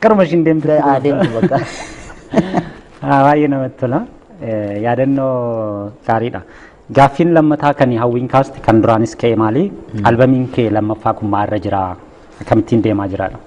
Karuma ishiin deemtu. Haa deemtu bakka. Haa, Baay'ee namatti tola. Eh, Yaadannoo gaariidha. Gaaffiin lammataa kan hawwiin kaaste kan duraanis ka'e maali? Albamiin kee lammaffaa kun maalirra jira? Akkamittiin deemaa jiraadha?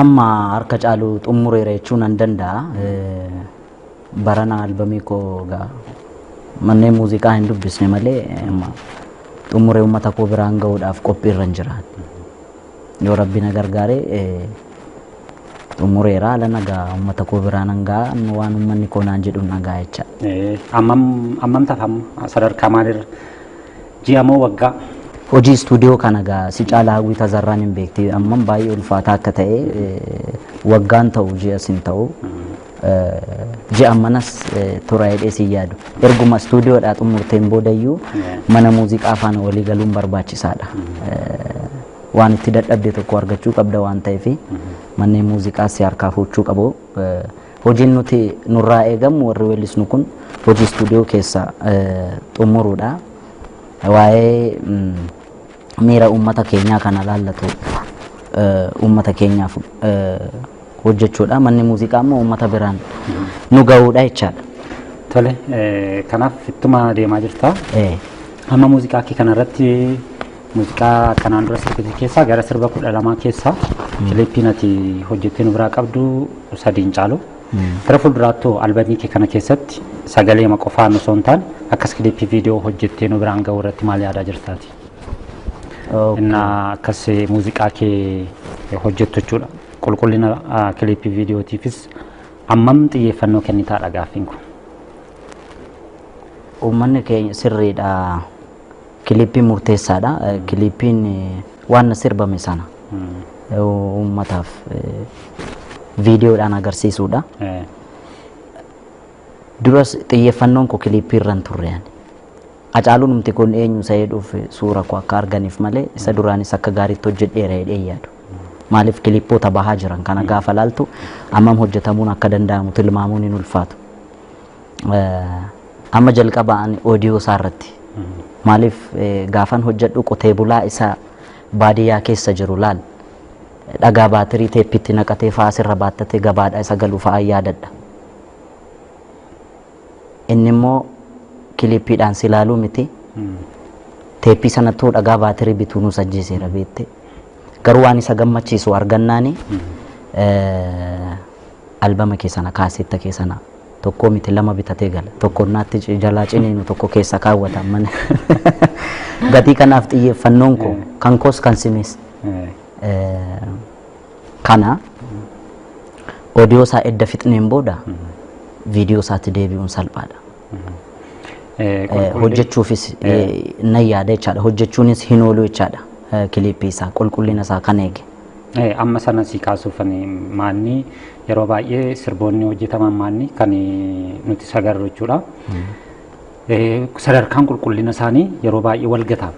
Amma harka caalu xumureera jechuu nan danda'a. Eh, Barana albamii koo gaa manneen muuziqaa hin dubbisne malee amma xumuree uummata koo biraan ga'uudhaaf qophiirra hin jira. Yoo Rabbi na gargaare xumureera haala nagaa uummata koo biraa nan ga'a amma waan uummanni koo naan jedhu nan ga'a jecha. Ammam ammam taaf amma sadarkaa maalirra ji'a moo waggaa? Hojii istuudiyoo kana gaa si caalaa hawwii tazarraan hin beekti ammam baay'ee ulfaataa akka ta'e waggaan ta'u ji'as hin ta'u Ji'an manas tura jedhee sin yaadu. Erguma istuudiyoodhaa xumurteen boodayyuu mana muuziqaa faana walii galuun barbaachisaadha. Waan itti dadhabde tokko argachuu qabda waan ta'eef manneen muuziqaa si harkaa fuuchuu qabu. Hojiin nuti nurraa eegamu warri weellisnu kun hojii istuudiyoo keessa xumuruudha. Waa'ee miira uummata keenyaa kana laallatu uummata keenyaaf hojjechuudha. Manni muuziqaa immoo uummata biraan nu ga'uudha jechaadha. Tole, kanaaf ittuma deemaa jirta. Amma muuziqaa kee kanarratti muuziqaa kanaan dura sirbite keessaa gara sirba kudha lamaa keessaa kiliippiin ati hojjettee nu biraa qabdu sadiin caalu. Gara fuulduraattuu albamii kee kana keessatti sagalee ma qofaan osoo hin taane akkas kiliippii viidiyoo hojjettee nu biraan ga'uu irratti maal yaadaa jirtaati? Okay. እና akkas eh, muuziqaa kee eh, hojjettu jechuudha. Qulqullina ah, kiliippii viidiyootiifis ammam xiyyeeffannoo kennitaadha gaaffiin kun. Uummanni keenya sirriidha. Kiliippiin murteessaadha. Eh, Kiliippiin eh, waan sirbame sana eh, uummataaf eh, viidiyoodhaan agarsiisuudha. Eh, Duras xiyyeeffannoon koo kiliippii irra hin turre ani. Hacaalunumti kun eenyu isa jedhuuf suura koo akka arganiif malee isa duraanis akka gaariitti hojjedheera jedhee hin yaadu. Maaliif kilippoota bahaa jiran kana gaafa laaltu ammam hojjetamuun akka danda'amu tilmaamuun hin ulfaatu. Eh, Amma jalqaba ani oodiyoo isaa irratti maaliif eh, gaafan hojjedhu qotee bulaa isa baadiyyaa keessa jiru laal dhagaa baatirii teeppiitti naqatee fa'aa asirra baattatee gabaadhaa isa galu fa'aa yaadadha. Inni immoo kiliippiidhaan si ilaaluu miti. Teeppii sanattuu dhagaa baatirii bituu nuus ajjeeseera beette. Garuu waan isa gammachiisu argannaani albama kee sana kaasetta kee sana tokkoo miti lama bitatee gala. Tokko naatti ci- jalaa ciniinu tokko keessa kaawwata mana. Gatii kanaaf xiyyeeffannoon koo kan koos kan sinis. Eh, Kana odiyoo isaa edda fixneen booda viidiyoo isaatti deebi'uun salphaadha. Eh, Qulqulli- Hojjechuufis eh, nan yaada jechaadha. Hojjechuunis hin oolu jechaadha. Eh, Kiliippii isaa qulqullina isaa kan eege. Eh, amma sana si kaasuuf ani maanni yeroo baay'ee sirboonni hojjetaman maanni kan nuti sagarru jechuudha. Sadarkaan qulqullina isaanii yeroo baay'ee wal gata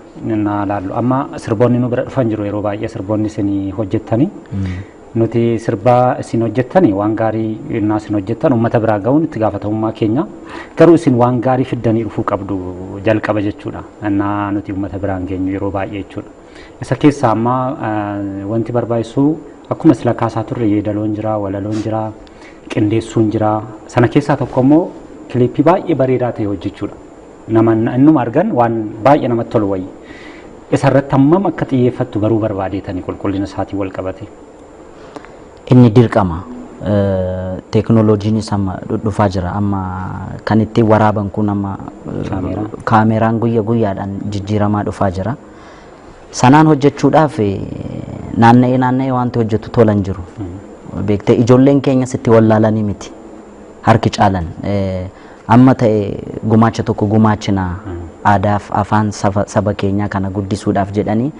naa laallu. Amma sirboonni nu bira dhufan jiru yeroo baay'ee sirboonni isin hojjettanii. Nuti sirba isin hojjettanii waan gaarii innaa isin hojjettan uummata biraa ga'uun itti gaafatamummaa keenya. Garuu isin waan gaarii fiddanii dhufuu qabdu jalqaba jechuudha. Innaa nuti uummata biraan geenyu yeroo baay'ee jechuudha. Isa keessaa amma wanti barbaachisu akkuma sila kaasaa turre yeedaloon jira, walaloon jira, qindeessuun jira. Sana keessaa tokko immoo kiliippii baay'ee bareedaa ta'e hojjechuudha. Nama innuma argan waan baay'ee namatti tolu wayyi. Isa irratti hammam akka xiyyeeffattu baruu barbaadeetani qulqullina isaatiin wal qabate. Inni dirqama. Teekinooloojiinis amma dhufaa jira. Amma kan ittiin waraaban kun amma kaameeraan guyya guyyaadhaan jijjiiramaa dhufaa jira. Sanaan hojjechuudhaaf naanna'ee naanna'ee wanti hojjetu tola hin jiru. Beektee ijoolleen keenya sitti wallaalanii miti. Harki caalan amma ta'e gumaacha tokko gumaachina aadaaf afaan saba keenyaa kana guddisuudhaaf jedhanii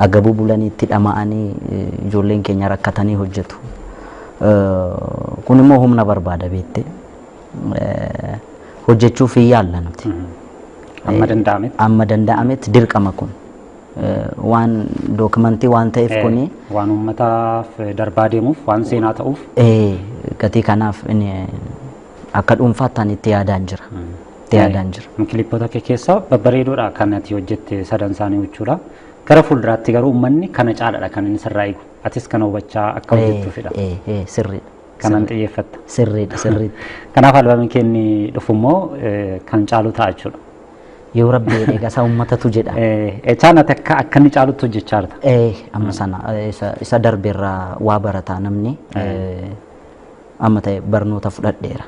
agabuu bulanii itti dhama'anii ijoolleen keenya rakkatanii hojjetu. Kun immoo humna barbaada beektee. hojjechuuf hin yaalla nuti. Amma danda'ametti. Amma danda'ametti dirqama kun waan dookimantii waan ta'eef kuni. Waan uummataaf darbaa deemuuf waan seenaa ta'uuf. Gatii kanaaf akka dhuunfaatti ani itti yaadaan jira. Itti yaadaan jira. Kilippoota kee keessaa babbareedoodha kan ati hojjette sadan isaanii jechuudha. Gara fuulduraatti garuu uummanni kana caalaadha kan inni sirraa eegu. Atis kana hubachaa akka hojjettuufidha. Sirriidha. kanan xiyyeeffatta. Sirriidha sirriidha. Kanaaf albamiin kee inni dhufu immoo eh, kan caalu ta'a jechuudha. Yoo rabbi jedhe gasaa uummatatu jedha. Echaan ati akka akka inni caalutti hojjechaa jirta. Eh, amma sana eh, isa, isa darbe irraa waa barataa namni eh, amma ta'e barnoota fudhadheera.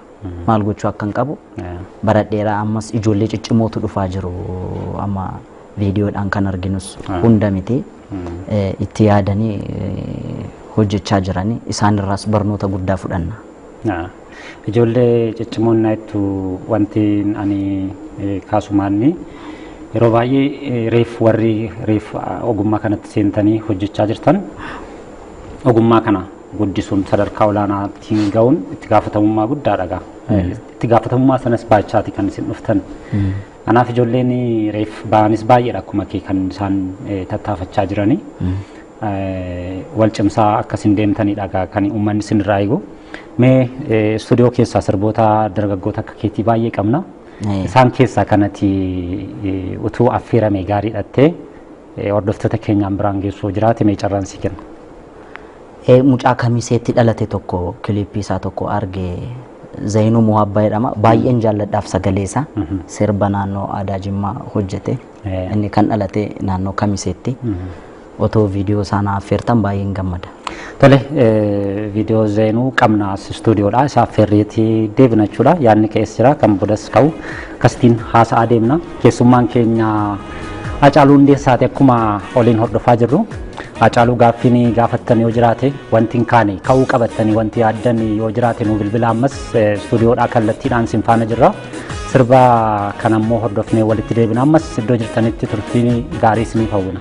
Maal gochuu akka hin qabu Eh, baradheera ammas ijoollee ciccimootu dhufaa jiru amma viidiyoodhaan kan arginus hunda miti. itti yaadanii hojjechaa jiran isaanirraas barnoota guddaa fudhanna. Ijoollee ciccimoon naattu wanti ani kaasumaanni yeroo baay'ee reef warri reef ogummaa kanatti seentanii hojjechaa jirtan ogummaa kana guddisuun sadarkaa olaanaattiin ga'uun itti gaafatamummaa guddaadha gaa. Itti gaafatamummaa sanas baachaati kan isin dhuftan. Kanaaf ijoolleen reef ba'anis baay'eedha akkuma kee kan isaan tattaafachaa jiranii. Wal cimsaa akka isin deemtanidha kan uummanni isin irraa eegu. Mee istuudiyoo keessaa sirboota dargaggoota akka keetii baay'ee qabna. Isaan keessaa kanati utuu affeerame gaarii dhattee hordoftoota keenyaan biraan geessuu jiraate mee carraan si kenna. Mucaa kamiseetti dhalate tokko kiliippii isaa tokko arge Zayinuu Muhabbaa jedhama. Baay'een jaalladhaaf sagalee isaa. Sirba naannoo aadaa Jimmaa hojjete. Eh. Inni kan dhalate naannoo Kamiseetti. Otoo viidiyoo isaa na affeertan baay'een gammada. Tole eh, viidiyoo zeenuu qabna as istuudiyoodha. Isa affeerreetii deebina jechuudha. Yaadni ka'es jira kan bodas ka'u akkasitiin haasa'aa deemna. Keessummaan keenya Hacaaluu Hundeessaati akkuma oliin hordofaa jirru. Hacaaluu gaaffiin gaafattan yoo jiraate wanti hin kaane ka'uu qabattanii wanti yaaddan yoo jiraate nu bilbila ammas istuudiyoodhaa kallattiidhaan sin faana jirra. Sirba kana immoo hordofnee walitti deebina ammas iddoo jirtanitti turtii gaarii isiniif hawwina.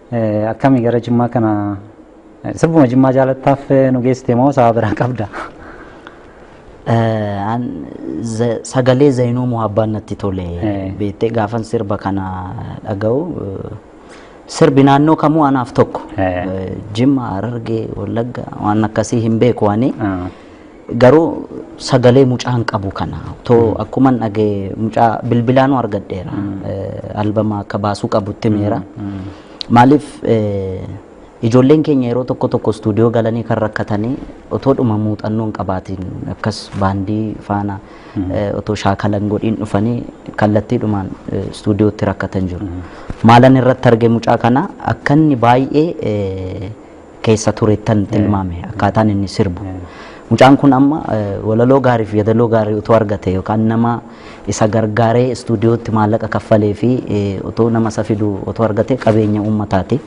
Akkami gara Jimmaa kana sirbuma Jimmaa jaalattaaf nu geessite moo sababa biraa qabda? Sagalee Zayinuu Muhabbaan natti tole beektee gaafan sirba kana dhaga'u sirbi naannoo kamuu anaaf tokko Jimma, Harargee, Wallagga waan akkasii hin beeku ani. Garuu sagalee mucaa hin qabu kana. Too akkuman dhagee mucaa bilbilaanuu argadheera. Eh, Albama akka baasuu qabutti meera. Maaliif eh, ijoolleen keenya yeroo tokko tokko istuudiyoo galanii kan rakkatanii otoo dhuma muuxannoo hin qabaatiin akkas baandii faana eh, otoo shaakalan godhiin dhufanii kallattiidhumaan eh, istuudiyootti rakkatan jiru. Maalan irratti arge mucaa kana akka inni baay'ee eh, keessa turettan tilmaame akkaataan inni sirbu. Mucaan kun amma walaloo gaarii fi yeedaloo gaarii utuu argate yookaan nama isa gargaaree istuudiyootti maallaqa kaffalee fi utuu nama isa fidu utuu argate qabeenya uummataati.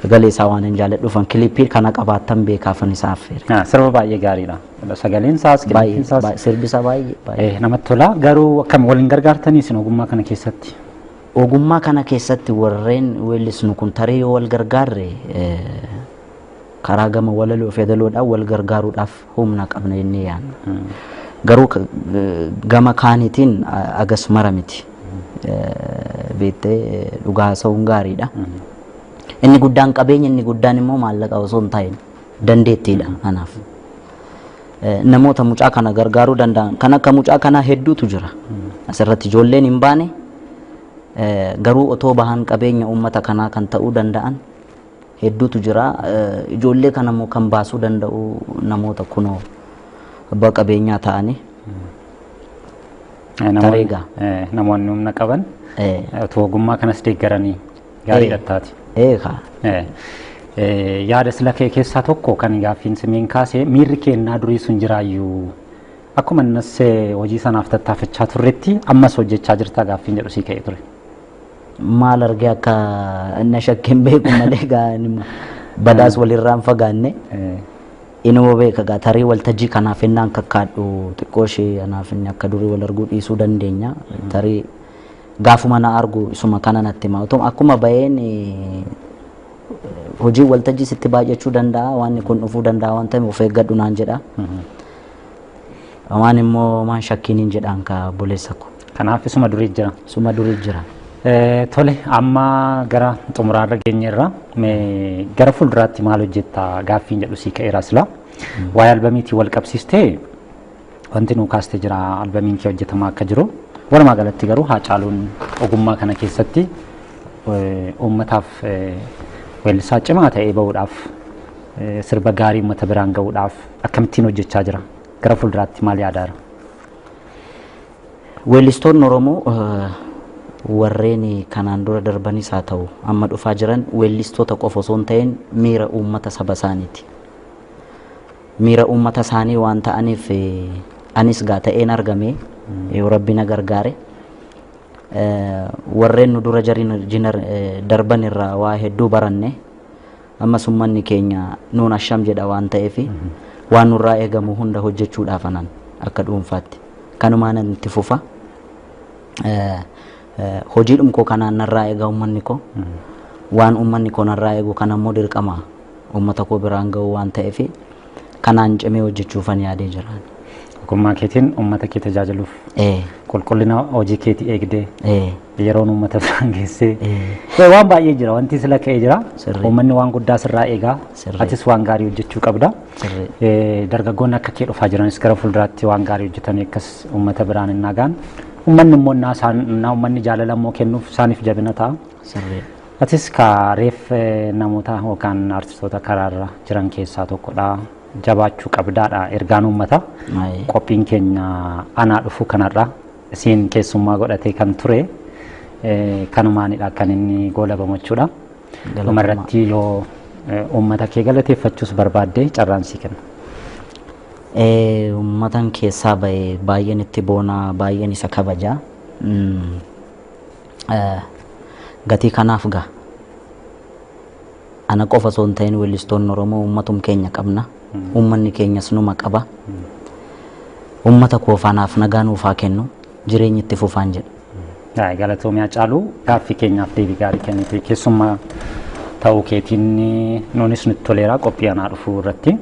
Sagalee isaa waan hin jaalladhuuf an kiliippii kana qabaattan beekaafan isaa affeere. Ah, Sirba baay'ee gaariidha. Sagaleen isaas, qilleensi Baay'ee isaas baay'ee- sirbi isaa baay'ee baay'ee. eh, namatti tola. Garuu akkam waliin gargaartanii isin ogummaa kana keessatti? Ogummaa kana keessatti warreen weellisnu kun tarii yoo wal gargaarre karaa gama walaloo fi yadaloodhaan wal gargaaruudhaaf humna qabna jennee yaadna. Garuu gama kaanitiin agas mara miti. Beektee dhugaa haasa'uun gaariidha. Inni guddaan qabeenya inni guddaan immoo maallaqa osoo hin taane dandeettiidha kanaaf. namoota mucaa kana gargaaruu danda'an kan akka mucaa kanaa hedduutu jira. Asirratti ijoolleen hin baane eh, garuu otoo bahan qabeenya uummata kanaa kan ta'uu danda'an hedduutu jira. Eh, Ijoollee kana immoo kan baasuu danda'u namoota kunoo abbaa qabeenyaa ta'anii Eh, namoonni- Tareegaa. eh, namoonni humna qaban Eh, eh, utuu ogummaa kanas deeggaranii Gaarii dhattaati. Eegaa. Eh, eh, Yaada sila kee keessaa tokko kan gaaffiin simiin kaase miirri keennaa durii sun jiraayyuu akkuma innis eh, hojii sanaaf tattaafachaa turretti ammas hojjechaa jirtaa gaaffiin jedhu sii ka'ee ture. maal argee akka na shakkeen beeku malee gaa nima. badaas walirraan fagaanne Eh, inuma beeka gaa tarii waltajjii kanaaf innaan kakkaadhu xiqqoo ishee anaaf inni akka durii wal arguu dhiisuu dandeenya tarii Gaafuma na argu isuma kana natti hima. Otuma akkuma baheen hojiin waltajjii sitti baay'achuu danda'a, waanni kun dhufuu danda'a waan ta'eef of eeggadhu naan jedha. Waan immoo maan shakkiin hin jedhaan ka obboleessa ko. Kanaaf isuma durii jira. Isuma durii jira. Eh, Tole, amma gara xumuraarra geenyeerra. Mee Gara fuulduraatti maal hojjetta gaaffiin jedhu sii ka'eera silaa. Waa'ee albamiitiin wal qabsiistee Wanti nuu kaaste jira albamiin kee hojjetamaa akka jiru. Walumaa galatti garuu Haacaaluun ogummaa kana keessatti uummataaf weellisaa cimaa ta'ee bahuudhaaf sirba gaarii uummata biraan gahuudhaaf akkamittiin hojjechaa jira? Gara fuulduraatti maal yaadaa jira? Weellistoonni Oromoo warreen kanaan dura darbanis haa ta'u amma dhufaa jiran weellistoota qofa osoo hin ta'in miira uummata saba isaaniiti. miira uummata isaanii waan ta'aniif anis egaa ta'een argame yoo rabbi na gargaare warreen nu dura jiran darban irraa waa hedduu baranne ammas uummanni keenya nuun asham jedha waan ta'eef waan nurraa eegamu hunda hojjechuudhaaf anan akka dhuunfaatti kanumaan itti fufa hojiidhum koo kanaan narraa eegaa uummanni koo waan uummanni koo narraa eegu kan ammoo dirqama uummata koo biraan ga'uu waan ta'eef kanaan cimee hojjechuufan yaadee jira. Ogummaa keetiin uummata kee tajaajiluuf Ee, qulqullina hojii keetii eegdee ee, yeroon uummata biraan geessee ee, Ee, waan baay'ee jira wanti sila ka'ee jira Sirrii. uummanni waan guddaa sirraa eegaa Sirrii. atis waan gaarii hojjechuu qabda Sirrii. Ee, dargaggoonni akka kee dhufaa jiranis gara fuulduraatti waan gaarii hojjetanii akkas uummata biraan hin nagaan uummanni immoo innaa isaan innaa uummanni jaalala immoo kennuuf isaaniif jabina ta'a sirrii. Atis kaa reef namoota yookaan artistoota karaarra jiran keessaa tokkodha. Jabaachuu qabdaadha ergaan uummataa. Ayi. Qophiin keenya anaa dhufu kanarra isiin keessummaa godhatee kan ture eh, kanumaanidha kan inni goolabamu jechuudha. Galatoomaa. Dhumarratti yoo eh, uummata kee galateeffachuus barbaadde carraan sii kenna. Eh, Uummatan keessaa bahe baay'een itti boona baay'een isa kabaja. Mm, Gatii kanaaf gaa ana qofa osoo hin ta'in weellistoonni Oromoo uummatum keenya qabna. Uummanni keenyas numa qaba. Uummata koo faanaaf nagaa nuuf haa kennu. Jireenyi itti fufaan jedha. Yaa galatoomii Hacaaluu gaaffii keenyaaf deebii gaarii kennite keessummaa ta'uu keetiin nuunis nutti toleera qophii anaa dhufuu irratti.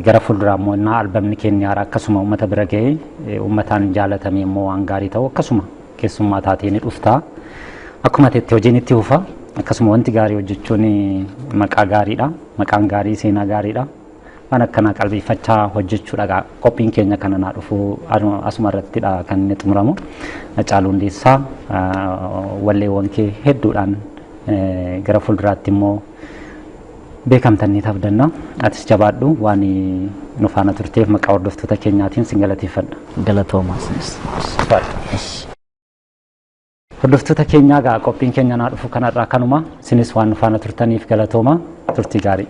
Gara fuulduraa immoo innaa albamni keenya haaraa akkasuma uummata bira ga'ee uummataan jaalatamee immoo waan gaarii ta'u akkasuma keessummaa taatee ni dhufta. Akkuma teetti hojiin itti fufa. Akkasuma wanti gaarii hojjechuun maqaa gaariidha. Maqaan gaarii seenaa gaariidha. Waan akkanaa qalbeeffachaa hojjechuudha. Qophiin keenya kana naa dhufu asuma irrattidha kan inni xumuramu. Hacaaluu Hundeessaa walleewwan kee hedduudhaan gara fuulduraatti immoo Beekamta ni tabdanna. Atis jabaadhu waan nu faana turteef maqaa hordoftoota keenyaatiin sin galateeffadha. Galatooma isinis. Hordoftoota keenyaa gaa qophiin keenya naa dhufu kanarraa kanuma isinis waan nu faana turtaniif galatooma turtii gaarii.